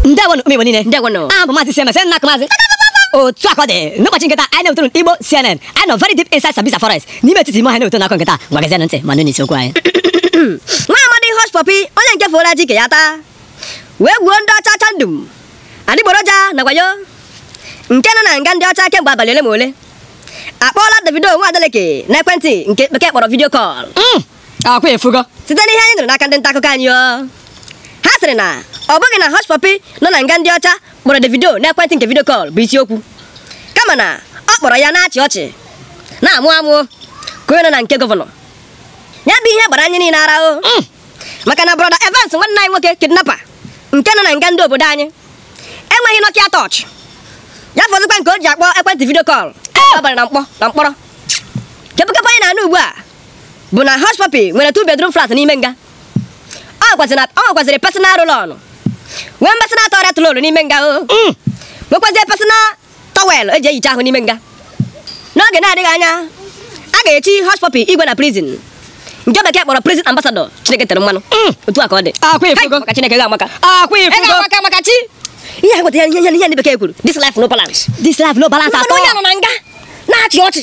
ndewonụ ụmụ igbo niile ndewonụ abụ m maazị cms nna akụ maazị otu a ka ọ dị n'ụbọchị nke taa anyị na-ewetụrụ igbo cnn anyị nọ very deep inside sambisa forest n'ime etiti ime ọhịa na-ewetụrụ akụkọ nke taa ngwa gezienụ ntị ma nụnụ isi okwu anyị nwa amadi hush puppy onye nke foro aji ike ya taa wee gwuo ndị ọcha ọcha ndum adịgboroja na wayo nke nọ na nga ndị ọcha kemgbe abalị ole ma ole akpọọla davido nwa adeleke n'ekwentị nke bekee kpọrọ video call ọkwa ịfụgo site n'ihe anyị nụrụ n'aka ndị nta akụkọ anyị ha sịrị na ọ bụghị na Hush Puppy nọ na nga ndị ọcha kpọrọ Davido n'ekwentị nke video call bụ isiokwu kama na ọ kpọrọ ya na-achị ọchị na-amụ amụ ka onye nọ na nke gọvanọ ya bụ ihe gbara anyị niile ara o mm. maka na brọda Evans nwanne anyị nwoke kidnapa nke nọ na nga ndị obodo anyị enweghị Nokia torch ya fọzikwa nke o ji akpọ ekwentị video call ọ bara na mkpọ na mkpọrọ kepụkepụ anyị na-anụ ugbu a bụ na Hush Puppy nwere two bedroom flat n'ime nga ọ nwekwaziri personal roll-on nwee personal toilet roll n'ime nga o mm. nwekwazie personal towel eji ehicha ahụ n'ime nga n'oge na-adịghị anya a ga-echi Hush Puppy igwe na prison nke bekee kpọrọ prison ambassador Chineke tere mmanụ mm. otu a ka ọ dị maka Chineke ga-amaka maka chi ihe a gwetara ihe ndị bekee kwuru this life no balance this life no balance at all onye nọ na nga na-achị ọchị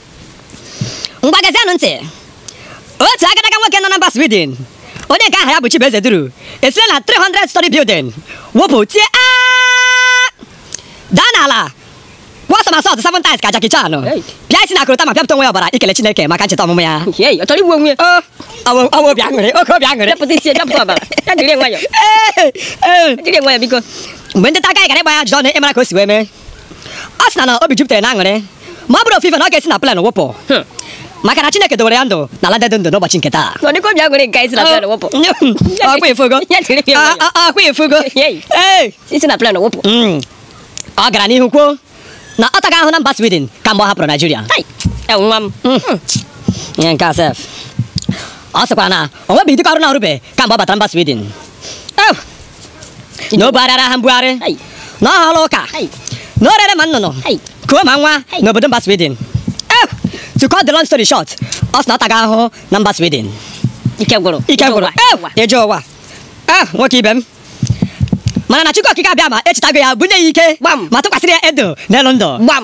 ngwa gezienụ ntị otu agadaga nwoke nọ na mba Sweden onye nke aha ya bụ Chibueze Duru esile na 300 story building wụpụ tie "Aa!" daa n'ala kwụọ somersault seven times ka Jackie Chan Hey. pịa isi na korota ma pịapụta onwe ya ọbara ikele Chineke maka ncheta ọmụmụ ya Hey, ọ chọrọ igbu onwe ya. o ọwụ ọwụ obi aṅụrị oke obi aṅụrị Pịapụta isi ya, pịapụta ọbara. Ya jiri nwayọ. Ee, ee. Jiri nwayọ biko. mgbe ndị nta akụkọ anyị gara ịgba ya ajụjụ ọnụ ịmara ka o si wee mee ọ sị na na obi jupụtara na aṅụrị ma ọ bụrụ ofufe na ọ ga-esi na plane wụpụ maka na Chineke dowere ya ndụ na ala dị ndụ n'ụbọchị nke taa Ọ dịka obi aṅụrị nke isi na plane wụpụ. ọkwa ịfụgo Ya tiri gị mmadụ. Ọ- ọ- ọkwa ịfụgo Yei. Ee. Isi na plane wụpụ. Mm. ọ gara n'ihu kwuo na ọ tago ahụhụ na mba Sweden kamgbe ọ hapụrụ Naijiria Ai, ya nwa m. ihe nke a sef ọ sịkwara na o nwebeghị ụdị ọrụ na-arụbe kamgbe ọ batara mba Sweden Ew, na o bugharịara ahịa mbugharị Hey. na ọ hụrụ ọka Hey. na o rere ma nnụnụ Hey. kuo ma nwa Hey. n'obodo mba sweden Eh, to cut the long story short ọ sị na ọ tago ahụhụ na mba sweden ike gwụrụ ike gwụrụ ụwa. Eh, ije ụwa Eh, nwoke ibe m mana na chukwu okike abịama echetago ya bunye ya ike Gbam. ma tụkwasịrị ya ndụ n'elu ndụ gbam